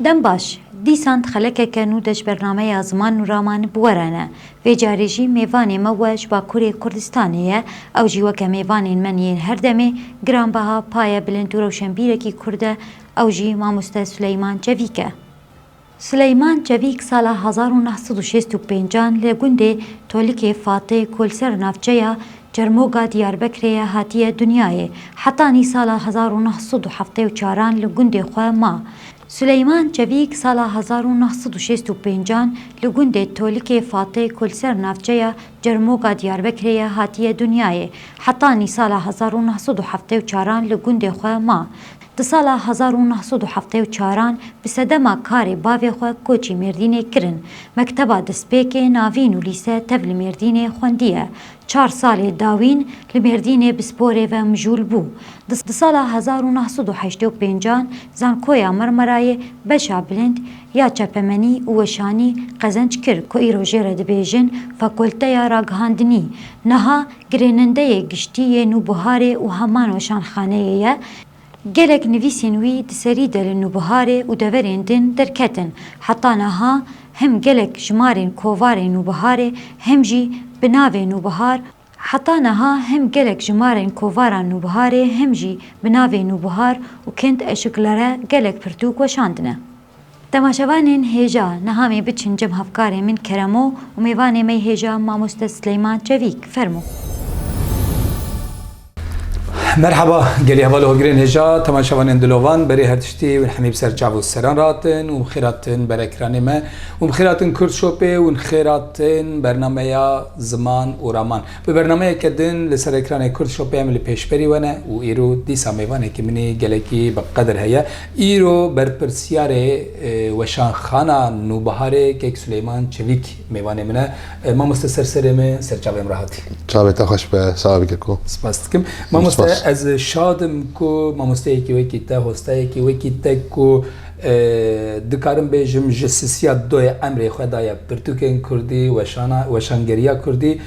Dem baş, dîsan dixelekeke nû de ji bernameya Ziman û Raman bi we re ne. Vê carê jî mêvanê me we ji Bakurê Kurdistanê ye, ew jî weke mêvanên min yên her demê, giranbeha, paye bilind û rewşenbîrekî Kurd e, ew jî Mamoste Suleyman Çevîk e. Suleyman Çevîk sala hezar û neh sed û şêst û pêncan li gundê Tolikê Fatê ku li ser navçeya Çermoga Diyarbekirê ye hatiye dinyayê. Heta nî sala hezar û neh sed û heftê û çar an li gundê xwe ma. Suleyman Çevîk sala hezar û neh sed û şêst û pênc an li gundê Tolikê Fatê ku li ser navçeya Çermoga Diyarbekirê ye hatiye dinyayê. Heta nî sala hezar û neh sed û heftê û çar an li gundê xwe ma. Di sala hezar û neh sed û heftê û çar an bi sedema karê bavê xwe koçî Mêrdînê kirin. Mekteba destpêkê, navîn û lîse tev li Mêrdînê xwendiye. Çar salê dawîn li Mêrdînê bi sporê ve mijûl bû. Di sala hezar û neh sed û heştê û pêncan Zankoya Marmarayê beşa bilind ya çepemenî û weşanî qezenc kir ku îro jê re dibêjin Fakulteya Ragihandinî. Niha girênendeyê giştî yê Nûbiharê û heman weşanxaneyê ye Gelek nivîsên wî di serî de li Nûbiharê û deverên din derketin. Heta niha hem gelek ji marên kovarê Nûbiharê hem jî bi navê Nûbihar Heta niha hem gelek ji marên kovara Nûbiharê hem jî bi navê Nûbihar û Kind Eşiklere gelek pirtûk weşandine. Temaşevanên hêja nihamê biçin cem hevkarê min keremo û mêvanê mey hêja mamoste Sileyman Çevîk fermo. Merhaba gelî heval hogirên hêja temaşevanên dilovan berê her tiştî ûn hemî bi ser çav û seran ratin û xêratin berekiranê me ûn xêratin kurd şopê ûn xêratin bernameya ziman û raman bi bernameyeke din li ser ekranê kurd şopê em li pêşberî we ne û îro dîsa mêvanekî minî gelekî bi qedir heye Îro berpirsyarê Weşanxana Nûbiharê Keyk Suleyman Çelîk mêvanê min e. Mamoste ser serê me, ser çavê em re hatî. Çavê te xweş be Selavi Keko. Spas dikim. Mamoste ez şad im ku mamosteyekî wekî te, hostayekî wekî te ku dikarim bêjim ji sisiya doyê emrê xwe daye pirtûkên kurdî, weşana, weşangeriya kurdî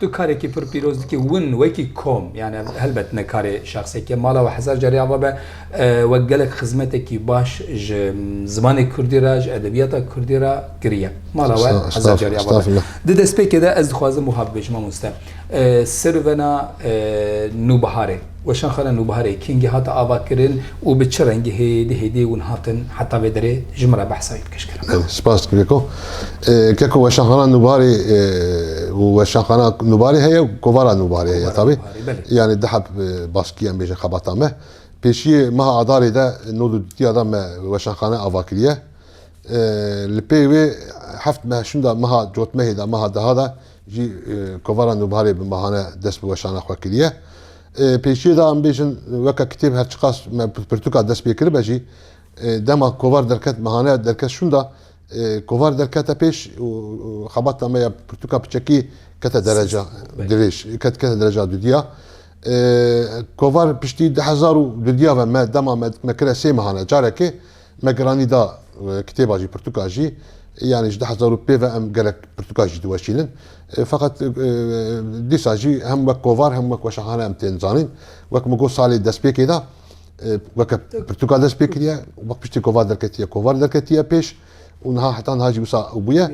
Tu karekî pir pîroz dikî win wekî kom yanî helbet ne karê şexsekî ye mala we hezar carî ava be we gelek xizmetekî baş ji zimanê kurdî re ji edebîyata kurdî re kirîye mala we hezar carî ava be. Di destpêkê de ez dixwazim wiha bibêjim mamoste sirvena nûbiharê. Weşanxana Nûbiharê kengî hate avakirin û bi çi rengî hêdî hêdî hûn hatin heta vê derê ji min re behsa wî pêş kirin. Spas dikim Keko. Keko Weşanxana Nûbiharê û Weşanxana Nûbiharê heye û Kovara Nûbiharê heye tabî. Yanî di heb baskî em bêjin xebata me. Pêşiyê meha Adarê de nod û dutiya de me weşanxane ava kiriye. Li pey wê heft meha şûnda meha cotmehê de meha deha de jî kovara nûbharê bi mehane dest bi weşana xwe kiriye. Pêşiyê de em bêjin weke kitêb her çiqas me pirtûka dest pê kiribe jî dema kovar derket mehane derket şûnda kovar derkete pêş û xebata me ya pirtûka piçekî kete dereca dirêj ket kete dereca dudiya. Kovar piştî di hezar û dudiya ve me dema me dikme kire sê mehane carekê Megrani da kitêba jî pirtûka jî yanî ji du hezar û pê ve em gelek pirtûka jî diweşînin. Feqet dîsa jî hem wek kovar hem wek weşanxane em tên zanîn. Wek min got salê destpêkê de weke pirtûka dest pê kiriye wek piştî kovar derketiye. Kovar derketiye pêş û niha heta niha jî wisa ew bûye.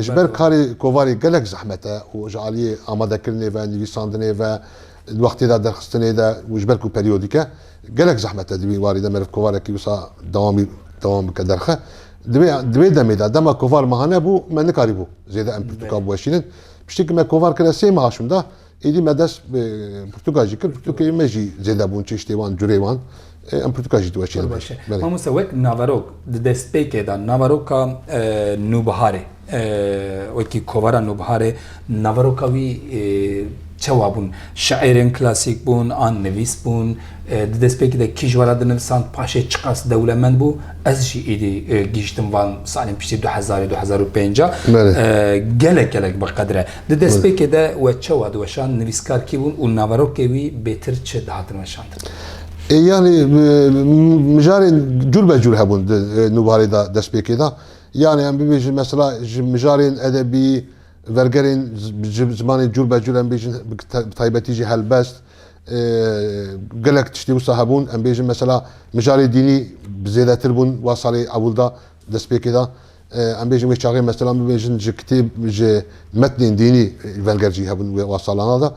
Ji ber karê kovarê gelek zehmet e û ji aliyê amadekirinê ve, nivîsandinê ve, Di wextê de derxistinê de û ji ber ku periyodîk e gelek zehmet e di wî warî de meriv kovarekî wisa dewamî dewam bike derxe. Di wê di wê demê de dema kovar meha nebû me nikarîbû zêde em pirtûka biweşînin. Piştî ku me kovar kir e sê meha şûnda êdî me dest bi pirtûka jî kir. Pirtûkê me jî zêde bûn çeştê wan curê wan. Em pirtûka jî diweşîne. Zor baş e. Belê. Mamoste wek naverok di destpêkê de naveroka e, nûbiharê e, wekî kovara nûbiharê naveroka wî e, çewa bûn? Şairên klasîk bûn an nivîs bûn? E, di destpêkê de kî ji we re dinivisand paşê çiqas dewlemend bû? Ez jî êdî e, gihiştim van salên piştî du hezarê du hezar û pênc a. Belê. E, gelek gelek biqedir e. Di destpêkê de we çewa diweşand nivîskar kî bûn û naverokê wî bêtir çi dihatin weşan? Yani mijarên cûr be cûr hebûn di nûbarê de destpêkê de. Yani em bibêjin mesela ji mijarên edebî, vergerên ji zimanên cûr be cûr em bêjin bi taybetî jî helbest gelek tiştê wisa hebûn. Em bêjin mesela mijarê dînî bi zêdetir bûn wa salê ewil de destpêkê de. Em bêjin wê çaxê mesela min bêjin ji kitêb ji metnên dînî venger jî hebûn wê wa salana de.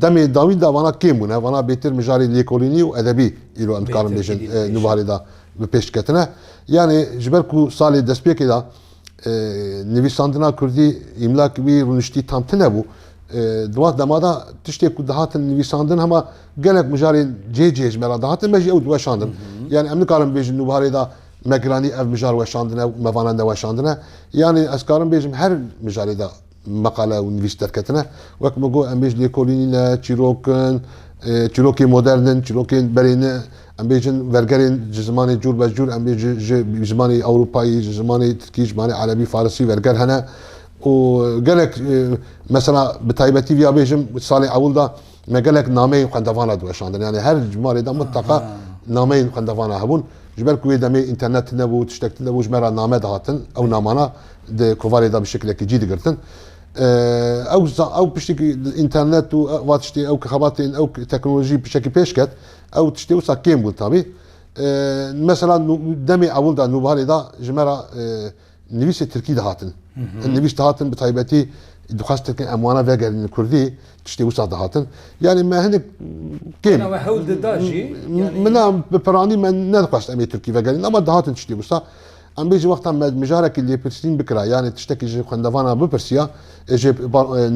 Demê dawî de vana kêm bûne. Vana bêtir mijarê lêkolînî û edebî îro em dikarin bêjin di warê de bi pêş diketine. Yanê ji ber ku salê destpêkê de nivîsandina kurdî îmla ki wî rûniştî tam tine bû. Di wan dema de tiştê ku dihatin nivîsandin hema gelek mijarên cihê cihê ji me re dihatin me jî ew diweşandin. Yanê em nikarin bêjin di warê de me giranî ev mijar weşandine û me vana neweşandine. Yanî ez karim bêjim her mijarê de meqale û nivîs derketine. Wek min got em bêj lêkolî nîne, çîrok in, çîrokê modern in, çîrokên berê ne. Em bêjin vergerên ji zimanê cûr be cûr, em bêjin ji zimanê ewropayî, ji zimanê tirkî, ji zimanê erebî, farisî verger hene û gelek mesela bi taybetî vîya bêjim salê ewil de Me gelek nameyên xwendevan re diweşandin. Yani her malê de mutlaka nameyên xwendevan re hebûn. Ji ber ku wê demê înternet tînebû, tiştek tînebû ji me re name dihatin. Ew namana di kovarê de bi şekilekî cî digirtin. Ew ew piştîkî înternet û va tiştê ew ki xebatên ew teknolojî pişekî pêş ket. Ew tiştê wisa kêm bûn tabî. Mesela demê ewil de nûbaharê de ji me re Nivîsê tirkî dihatin. Hin nivîs dihatin bi taybetî dixwestin em wana vegerînin kurdî tiştê wisa dihatin. Yanî me hinek kêm Hena we hewl dida jî yanî mina bi piranî me nedixwest em ê tirkî vegerînin ama dihatin tiştê wisa. Em bêjin wexta me mijarekî lêpirsîn bikira yanê tiştekî ji xwendevanan bipirsiya ê ji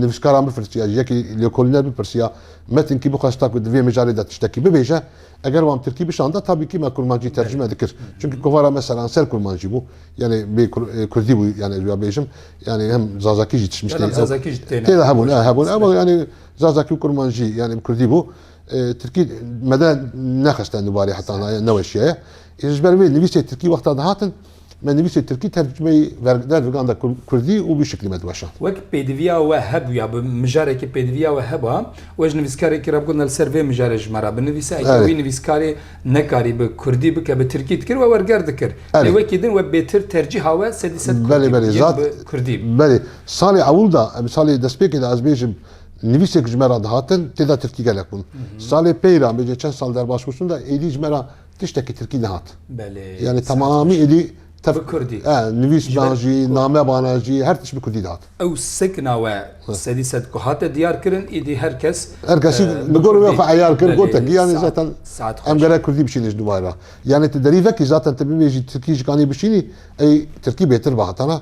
nivîskaran bipirsiya ji yekî lêkolîner bipirsiya metinkî bixwesta ku di vê mijarê de tiştekî bibêje Eger wan tirkî bişanda tabîkî me kurmancî tercime dikir. Çimkî kovara me seranser kurmancî bû. Yanê bê kurdî bû yanê ez wî ya bêjim. Yanê hem zazakî jî tişmiştê. Belem zazakî jî têne. Têde hebûn e hebûn e bal yanê zazakî û kurmancî yanê bi kurdî bû. Tirkî me de nexiste nûbarê heta na ye neweşiyaye. Ji ber vê nivîsê tirkî wexta dihatin Me nivîsê tirkî tercumeyî derviganda kurdî û vî şiklî me diweşand. Wek pêdiviya we hebûya bi mijarekî pêdiviya we heba we ji nivîskarekî re bigot li ser vê mijarê ji me re binivîse eke wî nivîskarê nekarî bi kurdî bike bi tirkî dikir we werger dikir lê wekî din we bêtir tercîha we sedî sed kurdî bû yên bi kurdî bû. Belê salê ewil de em salê destpêkê de ez bêjim nivîsek ji me re dihatin tê de tirkî gelek bûn. Salê pey re em bêje çend sal derbas bû şûn de êdî ji me re Tiştekî tirkî nehat. Belê. Yanî temamî êdî tev Bi kurdî. E, nivîsban jî, namebanan jî her tişt bi kurdî dihat. Ew sikna we sedî sed ku hate diyar kirin êdî her kes Her kesî bi gorî wê xwe eyar kir, gotin ki yanî zaten em gerek kurdî bişînê ji nûvay re. Yanî ti derî vekî zaten ti bibêjî tirkî ji kanî bişînî ey tirkî bêtir bi hatana.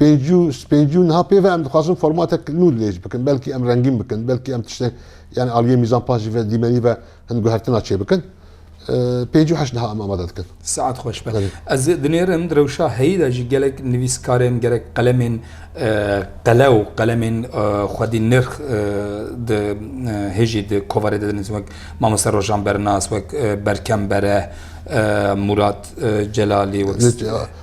pêncû pêncû niha pê ve em dixwazin formatek nû lêç bikin belkî em rengîn bikin belkî em tiştek yani aliyê mîzan paş jî ve dîmenî ve hin guhertina çê bikin pêncû heşt niha em amade dikin Saet xweş be ez dinêrim di rewşa heyî de jî gelek nivîskarên gerek qelemên qele û qelemên xwedî nirx di hêjî di kovarê de dinivîsin wek mamoste rojan bernas wek berkem bere Murat Celalî wek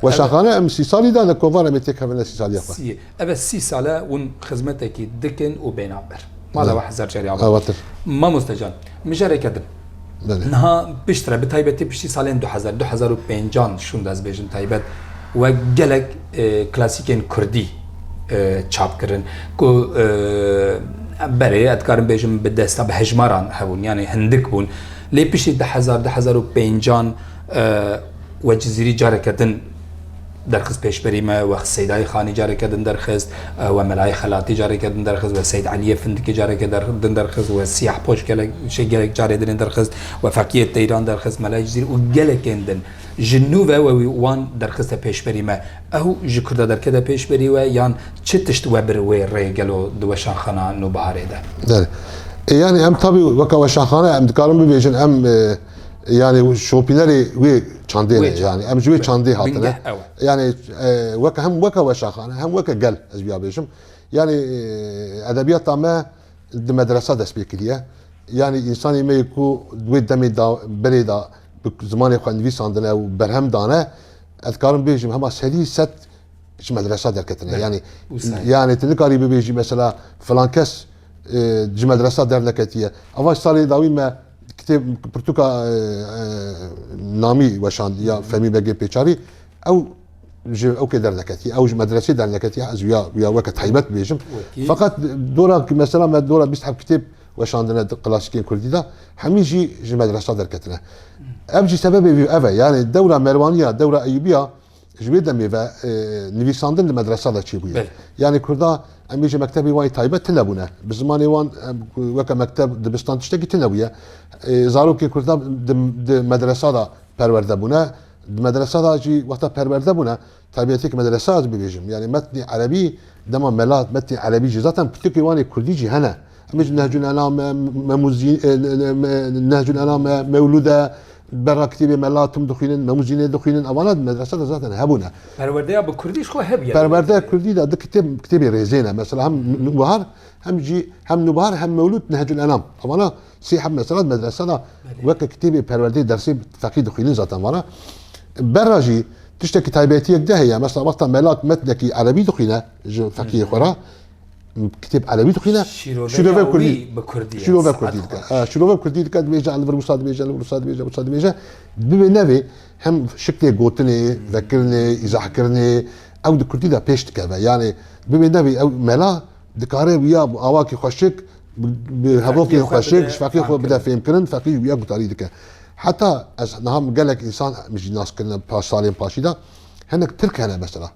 Weşaxane em sî salî dane kovan em ê têkevine sî salîya xwe. Sî, eve sî sal e hûn xizmetekî dikin û bêhna ber. Mala we hezar carî ava. Avatir. Mamoste can, mijareke din. Belê. Niha pişt re bi taybetî piştî salên du hezar, du hezar û pêncan şûn dezbêjin taybet we gelek klasîkên kurdî çap kirin ku berê ez dikarim bêjim bi desta bi hejmaran hebûn yanî hindik bûn lê piştî du hezar, du hezar û pêncan We Cizîrî careke din derxist pêşberî me, we Seydayê Xanî careke din derxist, we Melayê Xelatî careke din derxist, we Seyd Eliyê Findikê careke din derxist, we Siyahpoş gelek şey gelek carê dinê derxist, we Fekiyê Teyran derxist, Melayê Cizîrî û gelekên din. Ji nû ve we wî wan derxiste pêşberî me. Ew ji Kurda derkete pêşberî we yan çi tişt we bir wê rê gelo di weşanxana Nûbiharê de? Ê yanî em tabî weke weşanxane em dikarin bibêjin em Yani şopînerê wê çandê ne yani em ji wê çandê hatine yani weke hem weke weşaxane hem weke gel ez biya bêjim yani edebiyata me di medresa dest pê kiriye yani insanê me ku wê demê da berê da bi zimanê xwe nivîsandine û berhem dane ez karim bêjim hema serî set ji medresa derketine yani yani tu nikarî bibêjî mesela filan kes ji medresa derneketiye evaş salê dawî me Kitêb pirtûka namî weşandî ya Femî Begê Pêçavî ew ji ew kê derneketî ew ji medresê derneketî ez ya ya weke taybet bêjim feqat dora ki mesela me dora bîst hev kitêb weşandine di klasikên Kurdî de hemî jî ji medresa derketine ev jî sebebê vî ev e yani dewra merwaniya dewra eyûbiya Ji wê demê ve nivîsandin di medresa de çêbûye. Yanî kurda em ê ji mektebê wan taybet tunebûne. Bi zimanê wan weke mekteb dibistan tiştekî tunebûye. Zarokên kurda di medresa de perwerde bûne. Di medresa de jî wexta perwerde bûne taybetiyek medresa ez bibêjim. Yanî metnê erebî dema mela metnê erebî jî zaten pirtûkê wan ê kurdî jî hene. Em ji Nehcul Enam me, Memuzîn Nehcul Enam me, Mewlûd e, berra kitêbê me latim dixwînin, Memuzînê dixwînin, evana di medrese de zaten hebûne. Perwerdeya bi kurdî ji xwe hebûye. Perwerdeya kurdî de di kitêb kitêbê rêzê ne. Mesela hem Nûbahar hem jî hem Nûbahar hem Mewlûd Nehcul Enam. Evana sê heb mesela di medrese de weke kitêbê perwerdeyê dersê feqî dixwînin zaten vana. Berra jî tiştekî taybetiyek de heye. Mesela wexta me lat metnekî erebî dixwîne ji feqiyê xwe re. kitêb Elewî dixwîne şîrove Kurdî bi Kurdî şîrove Kurdî dike şîrove Kurdî dike dibêje li vir wisa dibêje li vir wisa dibêje wisa dibêje bibê nevê hem şiklê gotinê vekirinê îzahkirinê ew di Kurdî de pêş dikeve yanê bibê nevê ew mela dikare wiya bi awakî xweşik bi hevokê xweşik ji feqî xwe bide fêmkirin feqî wiya gutarî dike heta ez niha min gelek însan min jî nas kirine paş salên paşî de hinek tirk hene mesela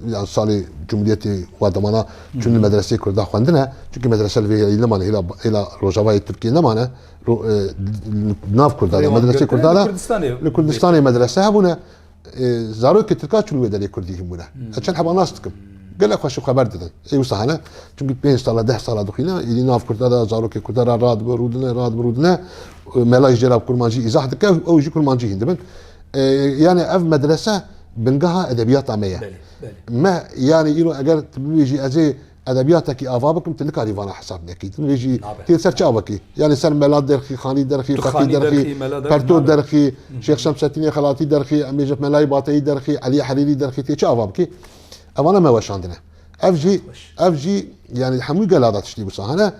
yan salê Cumhuriyetê wa demana çûn li medreseyê Kurda xwendine çunkî medrese li vê hêlî nemane hêla hêla Rojavayê Tirkiyê nemane ro e, li nav Kurda de Rêwan medreseyê girtine Kurda li de Kurdistanê li vê. Kurdistanê medrese hebûne E, zarokê Tirka çûn wê derê Kurdî hînbûne ez çend heba nas dikim gelek xweş û xeber didin ê wisa hene çunkî pênc sala deh sala dixwîne hêlî nav Kurda de zarokê Kurda ra radibe rûdine radibe rûdine E, melayî jê re bi kurmancî îzah dike ew jî kurmancî hîn dibin Yanî ev medrese bingeha edebiyata me ye. Me yanî îro eger tu bibêjî ez ê edebiyatekî ava bikim tu nikarî vana hesab nekî. Tu nibêjî tu yê ser çi ava kî? Yanî ser mela derxî, xanî derxî, feqî derxî, perto derxî, Şêx Şemsettînê Xelatî derxî, em bêjin melayê Bateyî derxî, Elî Herîrî derxî tu yê çi ava bikî? Ev ana me weşandine. Ev jî ev jî yanî hemû gela de tiştî wisa hene.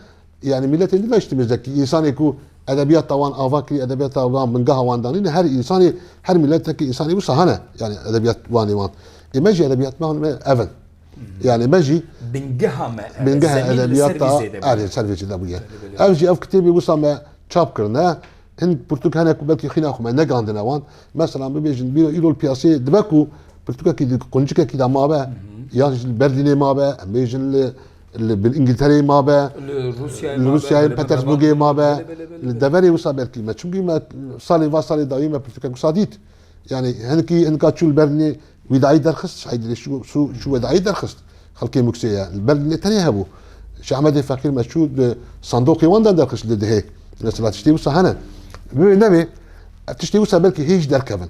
Yanî mîletên din ne ji timiz dekî însanê ku edebiyata wan ava kirî, edebiyata wan bingeha wan danî ne her însanê her mîletekî însanê wisa hene yanî edebiyat wanê wan. Ê me jî edebiyat me me ev in. Yanî me jî Bingeha me ev e. Bingeha Zemîn li ser vî edebiyata zêde erê bûye. li ser vê zêde bûye. Elbette. Ev jî ev kitêbê wisa me çap kirine hin pirtûk hene ku belkî xwîna xwe me negandine wan. Meselan bibêjin bîra îro li piyaseyê dibe ku pirtûkekî di quncikekî de mabe yan jî li Berlînê mabe em bêjin li Li bil Îngiltereyê mabe, li Rûsyayê li Petersburgê mabe. Li deverê wisa belkî me. Çimkî me salên va salê dawî me pirtûkek wisa dît. Yanî hinkî hinka çû li ber nê wîdayî derxist, şahîdî lê çû wedayî derxist xelkê Muksê ye. Li ber nê tenê hebû. Şah Emedê Feqîr me çû di sandoqê wan de derxist li dihê. Mesela tiştê wisa hene. Bi wê ne wê ev tiştê wisa belkî hê jî derkevin.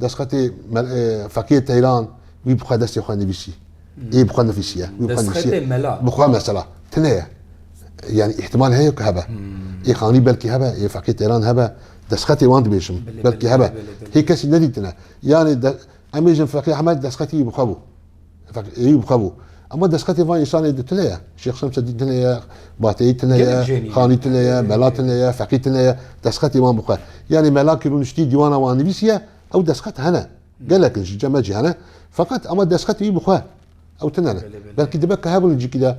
Destxetê Feqîrê Teyran wî bi xwe destê xwe nivîsî. Ê bi xwe nivîsiye. Wî bi xwe nivîsiye. Destxetê mela. Bi xwe mesela. Tune ye. Yanî îhtîmal heye ku hebe. Ê xanî belkî hebe, ê Feqîrê Teyran hebe. Destxetê wan dibêjim. Belkî hebe. Hê kesî nedîtine. Yanî em bêjin Feqî Ehmed destxetî wî bi xwe bû. Hetak êyî bi xwe bû. Ema destxetê van însanê di tune ye. Şêx Şemseddîn tune ye, Bateyî tune ye, Gelek jênî. Xanî tune ye, Mela tune ye, Feqî tune ye. Destxetê wan bi xwe. Yanî Mela ki rûniştî dîwana wan nivîsiye, ew destxet hene. Gelek in ji cem me jî hene. Feqet ema destxetê wî bi xwe. Ew tune ne. Belkî dibe ke hebûn li cîkî de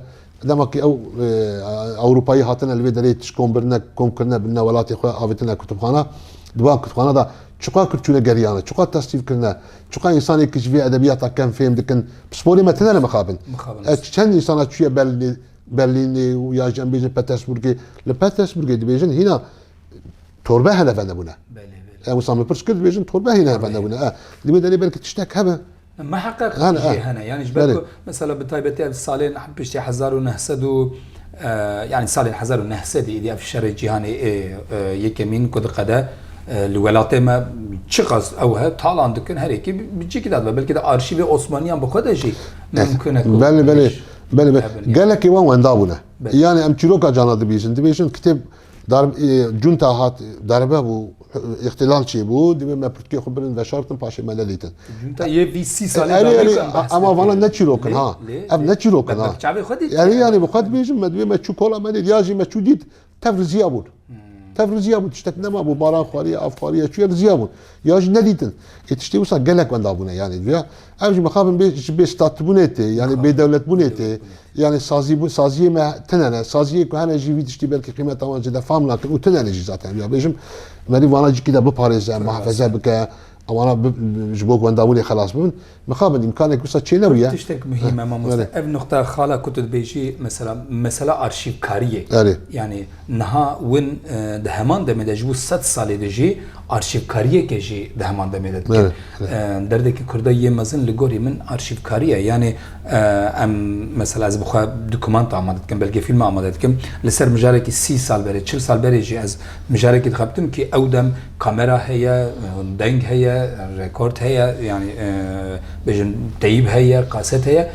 dema ki ew Ewropayî hatine li vê derê tişkon birine, kom kirine birine welatê xwe, avêtine kutubxana. Di van kutubxana de çiqar Kurd çûne geriyane, çiqar tasnîf kirine, Çuka însanê ki ji vê edebiyata kem fêm dikin, pisporê me tine ne mixabin. Mixabin. Çend însana çûye Berlînê, Berlînê û ya jî em bêjin Petersburgê. Li Petersburgê dibêjin hîna torbe hene venebûne. Belê, belê. Ew insan min pirs kir dibêjin torbe hîna venebûne. Di wê derê belkî tiştek hebe. Meheqeq jê hene. Yani ji ber ku Mesela bi taybetî ev salên piştî hezar û neh sed û yanî salên hezar û neh sedî êdî ev şerê cîhanê ê yekemîn ku diqede li welatê me çiqas ew he talan dikin her yekî bi cî kidadibe belkî di arşîvê osmaniyan bi xwe de jî mimkun e ku Belê belê belê belê gelekî wan wenda bûne. Yanî em çîroka cana dibîjin dibêjin kitêb Darb e, cunta hat, darbe bû, îxtilal çêbû, divê me pirtûkê xwe birin veşartin paşê me nedîtin. Cunta yê vî sî salî Erê erê dawî kan behs ema vana dikir. ne çîrokin Lê, ha. lê, Ev lê. ne çîrokin Me ha. bi çavê xwe dît. Erê yanî bi xwe dibêjim me divê me çû kola me dît ya jî me çû dît tev riziya bûn. Tev riziya bûn tiştek nemabû baran xwariye av xwariye çûye riziya bûn. Ya jî nedîtin. Ê tiştê wisa gelek wenda bûne yanî duya. Ev jî mixabin bê ji bêstatbûnê tê yanî bêdewletbûnê tê yanî sazîbûn saziyê me tune ne saziyê ku hene jî vî tiştî belkî qîmeta wan zêde fam nakin û tune ne jî zaten ya bêjim merî vana cîkî de biparêze muhefeze bike ewana ji bo wendabûnê xelas bibin mixabin îmkanek wisa çê nebûye. Tiştek muhîm e mamoste ev nuqta xala ku tu dibêjî mesela mesela arşîvkariyê yanî Niha win di heman demê de ji bo sed salê de jî arşîvkariyeke jî di heman demê de dikin. Derdekî Kurda yê mezin li gorî min arşîvkarî ye. Yanê em mesela ez bi xwe dokumenta amade dikim, belgefîlme amade dikim. Li ser mijarekî sî sal berê, çil sal berê jî ez mijarekî dixebitim kî ew dem kamera heye, deng heye, rekord heye yanî bêjin teyîb heye, kaset heye.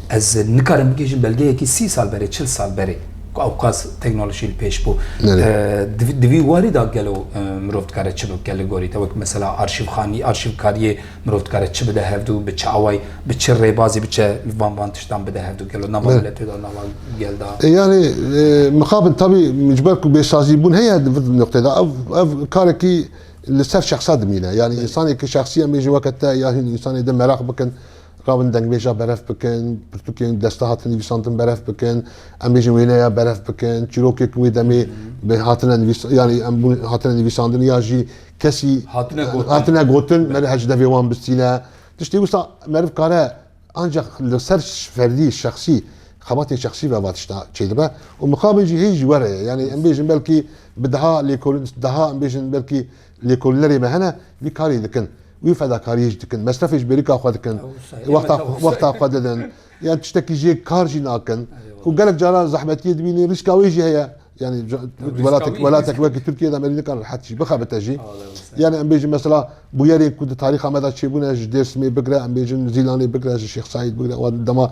Ez nikarim bigihîjim belgeyekî sî sal berê, çil sal berê ku ewqas teknolojî li pêş bû. Di vî warî de gelo mirov dikare çi bike li gorî te? Wek mesela arşîvxanî, arşîvkariyê mirov dikare çi bide hevdû, bi çi awayî, bi çi rêbazî biçe van van tiştan bide hevdû gelo nava miletê de, nava gel de. Yanî mixabin tabî ji ber ku bêsazîbûn heye di vir nokteyê de ev karekî li ser şexsa dimîne. Yanî însanekî şexsî em ê ji weke te yan hîn însanê din meraq bikin. Rabin dengbêja berev bikin, pirtûkên desta hatin nivîsandin berev bikin, em bêjin wêneya berev bikin, çîrokê ku wê demê bi hatine nivîs yanî em bûn hatine nivîsandin ya jî kesî Hatine gotin. hatine gotin meriv her ji devê wan bistîne. Tiştê wisa meriv kare ancak li ser ferdî, şexsî, xebatên şexsî ve va tişta çêdibe û mixabin jî hê jî were ye. Yanî em bêjin belkî bi deha lêkolîn, deha em bêjin belkî Lêkolînerê me hene vî karî dikin, wî fedakarî jî dikin, mesrefê ji bêrîka xwe dikin, wexta xwe didin, yan tiştekî jê kar jî nakin û gelek caran zehmetiyê dibînîn rîska wê jî heye. Yanî welatek wekî Tirkîye de merî nikare rehet jî bixebite jî. Yanî em bêjin mesela bûyerên ku di tarîxa me de çêbûne ji Dêrsimê bigire, em bêjin Zîlanê bigire, ji Şêx Saîd bigire û dema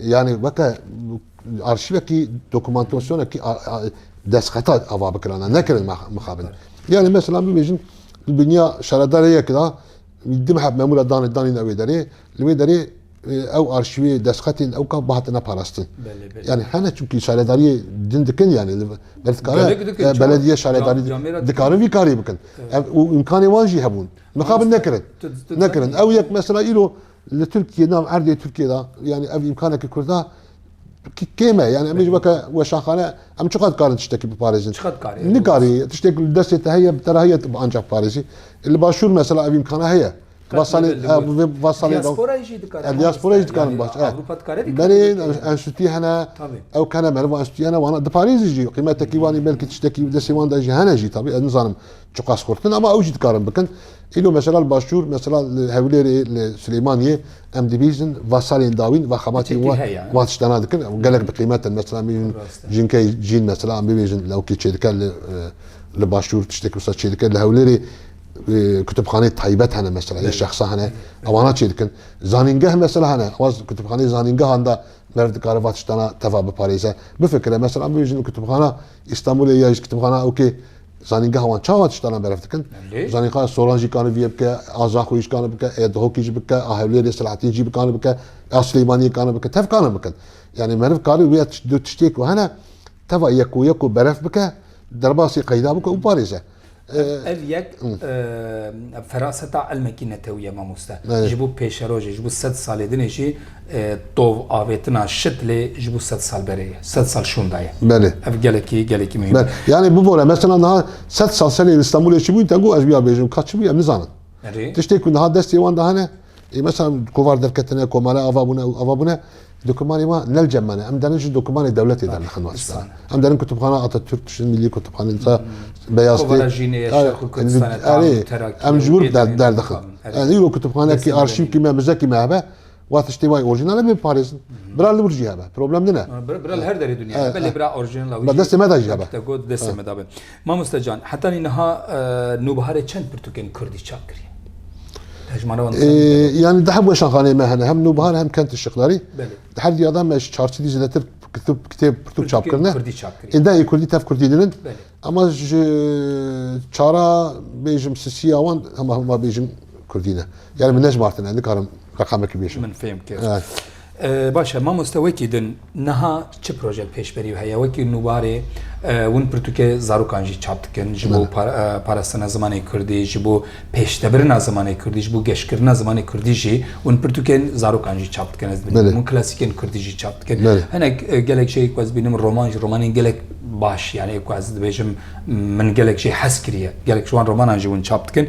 Yanî weke arşîvekî dokumantasyonekî destxeta ava bikirana nekirin mixabin. Yanî mesela bibêjin di dinya şaredarê yek de di meheb memûra danê danîne wê derê li wê derê ew arşîvê destxetên ew ka bihatine parastin. Yanî hene çimkî şaredariyê din dikin yanî ber dikare belediye şaredarî dikarin vî karî bikin. Ev û îmkanê wan jî hebûn. Mixabin nekirin. Nekirin. Ew yek mesela îro Li Tirkiyê nav erdê Tirkiyê de yanî ev îmkaneke Kurda kêm e. Yanî em ê ji weke weşanxane em çiqas dikarin tiştekî biparêzin. Nikarî tiştek li destê te heye bi te re heye tu anca biparêzî. Li başûr mesela ev îmkana heye. Va salê va salê Diasporayê jî dikarin. Diasporayê jî dikarin baş. Ewropa dikare vê karî bikin. Berê enstîtûyê hene ew kene meriv enstîtûyê hene wana diparêzî jî qîmetekî wanî belkî tiştekî destê wan de jî hene jî tabî ez nizanim. Çiqas xurt in ama ew jî dikarin bikin. Îro mesela li başûr mesela li Hewlêrê li Silêmaniyê em dibîzin vasalên dawîn va xebatî wan wan tiştana dikin û gelek bi qîmet in. Mesela em bibînin jinkeyê cîn mesela em bibêjin lewkî çêdike li li başûr tiştekî wisa çêdike li Hewlêrê kutubxaneyê taybet hene mesela yê şexsa hene ewana çêdikin. Zanîngeh mesela hene ewa kutubxaneyê zanîngehan de merv dikare va tiştana teva biparêze. Bifikire mesela em bibêjin li kutubxana Îstanbûlê ya Hîşkitîbxana ok ê zanîngeha wan çawa tiştanan berf dikin. Zanîngeha Soran jî kanî vîyê bike, a Zaxoyî jî kanî bike, ê Dihokî jî bike, a Hewlêrê Selahatîn jî kanî bike, a Silêmaniyê kanî bike. Tev kanî bikin. Yanî meriv karî wê du tiştê ku hene teva yek û yek û berf bike, derbasî qeyda bike û parêze. Ev yek feraseta elmekî netewîye mamoste. Ji bo pêşerojê, ji bo sed salê din ê jî tov avêtina şit lê ji bo sed sal berê ye. Sed sal şûnda ye. Belê. Ev gelekî gelekî mihîm. Belê. Yanî bibore mesela niha sed sal serê Îstanbulê çi bûyî te got ez bûya bêjim ka çi bûye em nizanin. Erê. Tiştê ku niha destê wan de hene Ê mesela kovar derketine, komare ava bûne û ava bûne dokûmanê ma nel cem mane. Em derin ji dokûmanê dewletê der nixin wasîdan. Em derin kutubxana Atatürk tişin milî kutubxanê disa beyaz tê. Erê em ji wir der dixin. Ez îro kutubxanekî arşîvkî me mizekî me hebe wa tiştê wayî orjînal e bê biparêzin. Bira li wir jî hebe. Problem din e. Bira li her derê dinya hebe lê bira orjînal wî jî destê me de jî hebe. Mamoste Can, heta nî niha Nûbiharê çend pirtûkên kurdî çap kiriye? Yani di hemû şanxaneyê me hene hem nûbihar hem kentê şixlarî di her diya de me ji çar çilî zêdetir kitêb kitêb pirtûk çap kirine êndê ê kurdî tev kurdî dinin ama ji çara bêjim sisiya wan hema hema bêjim kurdî ne yani min nejmartine nikarim reqamekî bêjim min fêm kir Baş e mamoste wekî din niha çi projek pêşberî wî heye? Wekî nûbarê win pirtûkê zarokan jî çap dikin ji bo parastina zimanê kurdî, ji bo pêştebirina zimanê kurdî, ji bo geşkirina zimanê kurdî jî win pirtûkên zarokan jî çap dikin ez dibînim. Win klasîkên kurdî jî çap dikin. Hinek gelek jê ku ez bînim roman jî romanên gelek baş yanî ku ez dibêjim min gelek jê hez kiriye. Gelek ji wan romanan jî win çap dikin.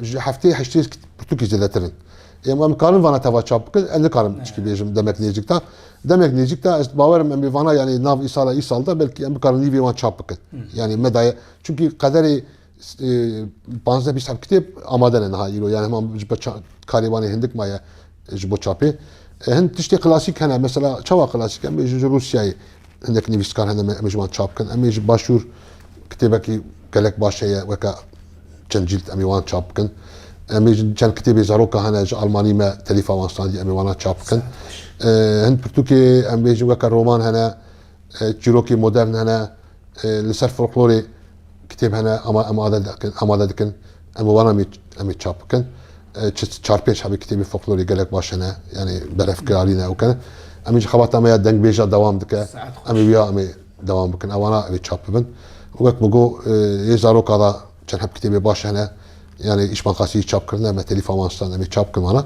Ji heftê heştê pirtûkê zêdetir in. Em em karin vana teva çap bikin. Ez nikarim çikî bêjim demek nêzik de. Demek nêzik de ez bawerim em ê vana yanî nav îsala îsal de belkî em bikarin nîvê wan çap bikin. Yanî me daye çimkî qederê panzdeh bîst heft kitêb amade ne niha îro. Yanî hema ji ber karê wan ê hindik maye. ji bo çapê. Hin tiştê klasîk hene mesela çawa klasîk em ê ji Rûsyayê hinek nivîskar hene em ê ji wan çap bikin. Em ê ji başûr kitêbekî gelek baş heye weke çend cîld em ê wan çap bikin. Em ê ji çend kitêbê zaroka hene ji Almanî me telîfa wan standî em ê wana çap bikin. Hin pirtûkê em ê ji weke roman hene çîrokê modern hene. li ser folklorê kitêb hene ama em amade dikin amade dikin em bi wan amê amê çap bikin çi çar pênc hebî kitêbê folklorê gelek baş hene yanê berevkirarî ne û kene emê ji xebata me ya dengbêja dewam dike Saet xweş. emê wiya emê dewam bikin ewana evê çap bibin û wek min got yê zaroka da Çend heb kitêbê baş hene. Yani îşman qasî çap kirine me telîfa wan stan em ê çap kirin wana.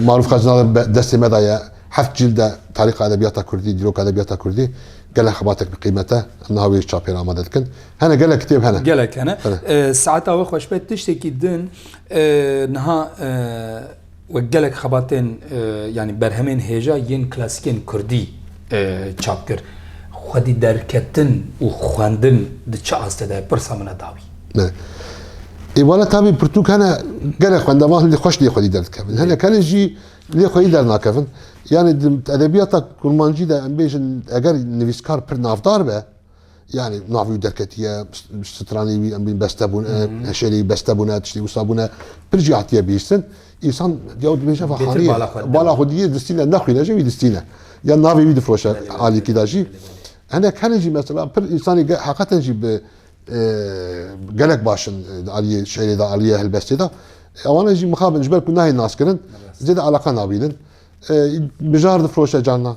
Maruf Xezina destê me daye heft cîl de tarîxa edebiyata Kurdî, dîroka edebiyata Kurdî gelek xebatek bi qîmet e. Em niha wê çapê re amade dikin. Hene gelek kitêb hene. Gelek hene. Saeta we xweş be tiştekî din niha Wek gelek xebatên yanî berhemên hêja yên klasîkên kurdî çap kir. Xwedî derketin û xwendin di çi aste de ye? Pirsa min e dabî. Ne. Ê wala tabî pirtûk hene gelek xwendevan hindî xweş lê xwedî derdikevin. Hinek hene jî lê xwedî dernakevin. Yanî di edebiyata kurmancî de em bêjin eger nivîskar pir navdar be, Yanî navê wî derketiye, stranê wî em bîn beste bûne, heşêrê wî beste bûne, tiştê wisa bûne. Pir jî hatiye bihîstin. Însan ya dibêje va xaniyê bala xwe diyê distîne nexwîne jî wî distîne. Ya navê wî difiroşe alîkî de jî. Hinek herî jî mesela pir însanî heqeten jî bi gelek baş in di aliyê şerê de, aliyê helbestê de. Ewana jî mixabin ji ber ku nayên naskirin zêde eleqa nabînin. Mijar difiroşe carnan.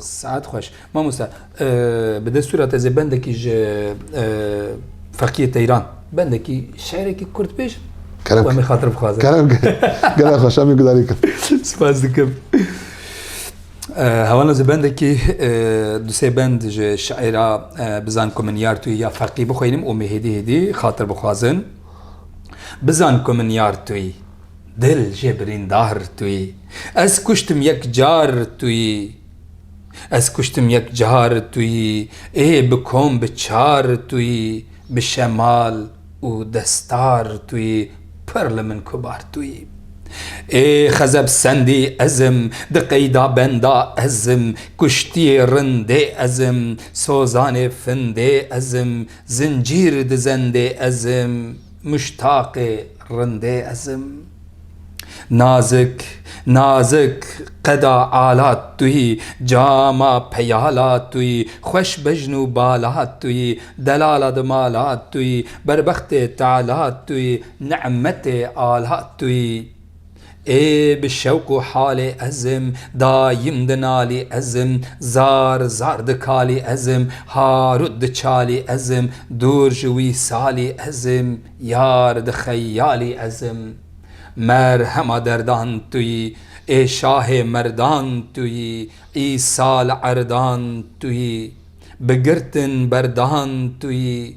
Saet xweş. Mamoste bi destûra te zê bendekî ji Feqiyê Teyran bendekî şerekî Kurd bêj Kerem em xatir bixwazin. Kerem gel xweş em gudarî kir. Spas dikim. Hewana zê bendekî du sê bend ji şaîra Bizan ku min yar tuyî ya Feqî bixwînim û me hêdî hêdî xatir bixwazin. Bizan ku min yar tuyî. Dil jê birîndar tu yî. Ez kuştim yek car tu yî. Ez kuştim yek car tu yî ê bi kom bi çar tu yî bi şemal û destar tu yî pir li min kubar tu yî ê xezeb sendî ez im di qeyda benda ez im kuştiyê rindê ez im sozanê findê ez im zincîr di zendê ez im. Muştaqê rindê ez im. Nazik, nazik qeda ala tuyî, cama peyala tuyî, xweş bejn û bala tuyî, delala di mala tuyî, berbextê teala tuyî, ni'metê ala tuyî. Ê bi şewq û halê ez im, dayim di nalî ez im, zar zar di kalî ez im, harût di çalî ez im, dûr ji wîsalî ez im, yar di xeyalî ez im. Merhema derdan tu yî, ê şahê merdan tu yî, îsal erdan tu yî, bi girtin berdan tu yî,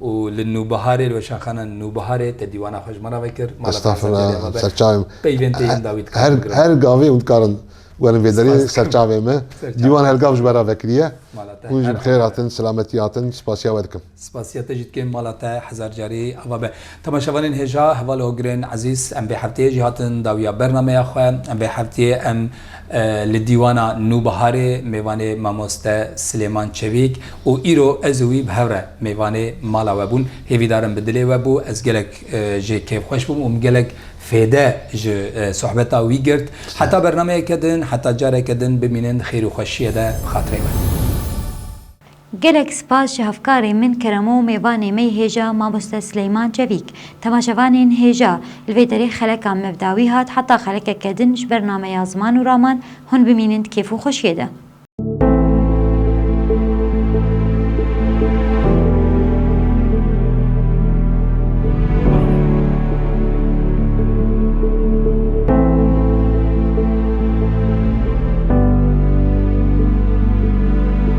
û li Nûbiharê li Weşanxana Nûbiharê te dîwana xwe ji me re vekir. Mala te li ser carê xwe be. Peyvên te yên dawî dikarin bigrin. Her gavê hûn dikarin werin vê derê ser çavê me. Dîwan her gav ji me re vekiriye. Mala te her ava be. Hûn jî bi xêr hatin, silametî hatin. Spasiya we dikim. Spasiya te jî dikim. Mala te hezar carî ava be. Temaşevanên hêja, hevalê Hogirên Ezîz, em vê hefteyê jî hatin dawiya bernameya xwe. Em vê hefteyê em Li Dîwana Nûbiharê mêvanê mamoste Silêman Çevîk û îro ez û wî bi hev re mêvanê mala we bûn. Hêvîdar in bi dilê we bû. Ez gelek jê kêfxweş bûm û min gelek fêde ji sohbeta wî girt. Heta bernameyeke din, heta careke din bimînin di xêr û xweşiyê de bi xatirê me. Gelek spas ji hevkarê min Keremo û mêvanê me yê hêja Mamoste Sileyman Çevîk. Temaşevanên hêja, li vê derê xeleka mevda wî hat heta xelekeke din ji ber nameya ziman û raman hûn bimînin di kêf û xweşiyê de.